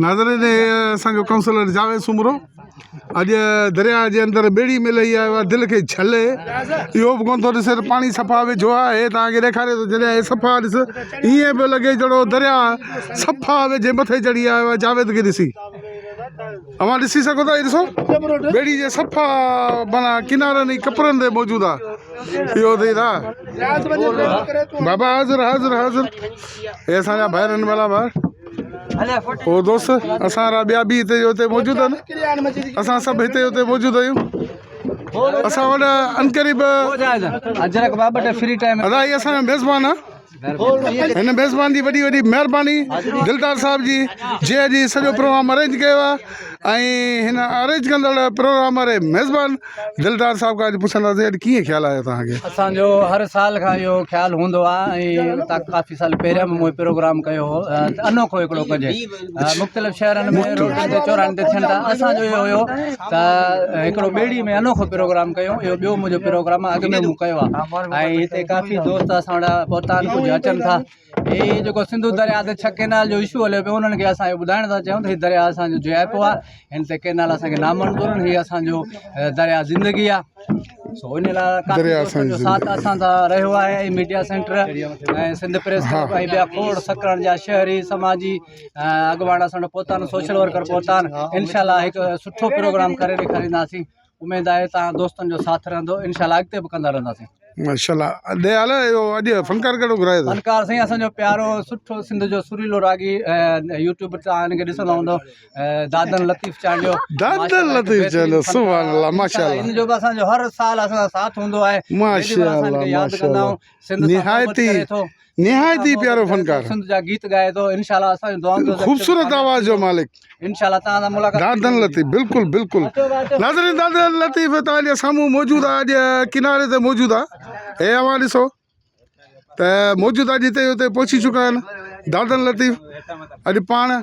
ناظرين اسان جو ڪائونسلر جاويد سومرو اڄ درياء جي اندر ٻيڙي ۾ لهي آيو آهي دل کي ڇل اهو به ڪونه ٿو ڏسي ته پاڻي صفا ويجهو آهي توهان کي ڏيکاري ٿو جڏهن هي صفا ڏس ائين پيو لڳي جهڙو درياء صفا ويجهي مٿي چڙهي آيو آهي جاويد کي ڏسي اوهان ڏسي سگهو ٿا هي ڏسو ٻيڙي جي صفا مانا ڪنارن جي ڪپرن تي موجود آهي اهو ٿئي ٿا بابا حاضر حاضر حاضر هي اسان جا ڀائر آهن ملا ڀائر او دوست اسان را ٻيا به هتي جو هتي موجود آهن اسان سڀ هتي هتي موجود آهيون اسان وٽ انقريب اجرڪ بابا ته فري ٽائم ادا هي اسان جو ميزبان آهن هن ميزبان جي وڏي وڏي مهرباني دلدار صاحب جي جي اڄ سڄو پروگرام ارينج ڪيو آهي ۽ هن ارينج ڪندڙ پروگرام واري ميزبان دلدار صاحب کان اڄ پڇنداسين اڄ ڪيئن خيال آيو توهان کي اسان جو هر سال کان اهو خيال هوندو آهي ۽ اتان ڪافي سال پهريان به مون پروگرام ڪيو هو ته انوکو هڪڙو ڪجي مختلف شهرن ۾ روڊن تي چوراهن تي ٿين ٿا اسان جو اهو هيو ته هڪڙو ٻيڙي ۾ انوکو پروگرام ڪيو اهو ٻيو منهنجو پروگرام اڳ ۾ مون ڪيو آهي ۽ هتي ڪافي دوست اسان وٽ پهتا آهن ڪجهه اچن ٿا هي جيڪو سنڌو درياء تي ڇهه ڪينال جو اشو هليو پيو انهن کي اسان اهو ٻڌائڻ ٿا چاهيون ته هي درياء اسانجو جي آء پيو آهي هن تي ڪينال اسانکي نامنظور آهن هي اسانجو درياء زندگي آهي سو ان لاء ڪافي دوستن جو ساٿ اسان سان رهيو آهي ۽ ميڊيا سينٽر ۽ سنڌ پريس ۽ ٻيا کوڙ سکرن جا شهري سماجي اڳواڻ اسان وٽ پهتا آهن سوشل ورڪر پهتا آهن انشاء الله هڪ سٺو پروگرام ڪري ڏيکارينداسين اميد آهي ته دوستن جو ساٿ رهندو انشاء الله اڳتي به ڪندا رهنداسين. ماشاءالله ڏي حال اهو اڄ فنڪار ڪهڙو گهرايو اٿو. فنڪار سائين اسان جو پيارو سٺو سنڌ جو سريلو راڳي يوٽيوب تان هن کي ڏسندا هوندو دادن لطيف چانڊيو دادن لطيف چانڊيو سبحان الله ماشاءالله هن جو به اسان جو هر سال اسان سان ساٿ هوندو آهي ماشاءالله ماشاءالله نهايت نهايت ئي پيارو فنڪار سنڌ جا گيت ڳائي ٿو انشاءالله اسان جون دعائن جو خوبصورت آواز جو مالڪ انشاءالله تان سان ملاقات دادن لطيف بالکل بالکل ناظرين دادن لطيف تان جا سامو موجود آ اڄ کناري تي موجود آ اي اوا ڏسو ته موجود آ جتي اتي پهچي چڪا آهن دادن لطيف اڄ پاڻ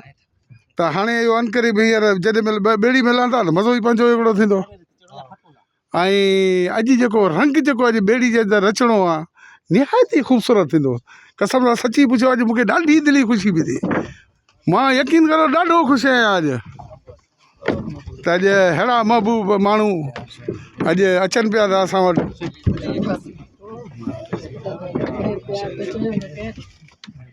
ته هاڻي اهو انڪري به هينئر جڏهن مل ٻيڙي ملان ٿا ته مزو ئي پنهنجو هڪڙو ٿيندو ۽ اڄ جيڪو رنگ جيڪو اڄ ٻيڙي جي اندر رچڻو آ نهايت ئي خوبصورت ٿيندو قسم سان سچي پڇيو اڄ مونکي ڏاڍي دلي خوشي به ٿي مان يقين ڪرو ڏاڍو خوش آهيان اڄ ته اڄ ههڙا محبوب ماڻهو اڄ اچن پيا ٿا اسان وٽ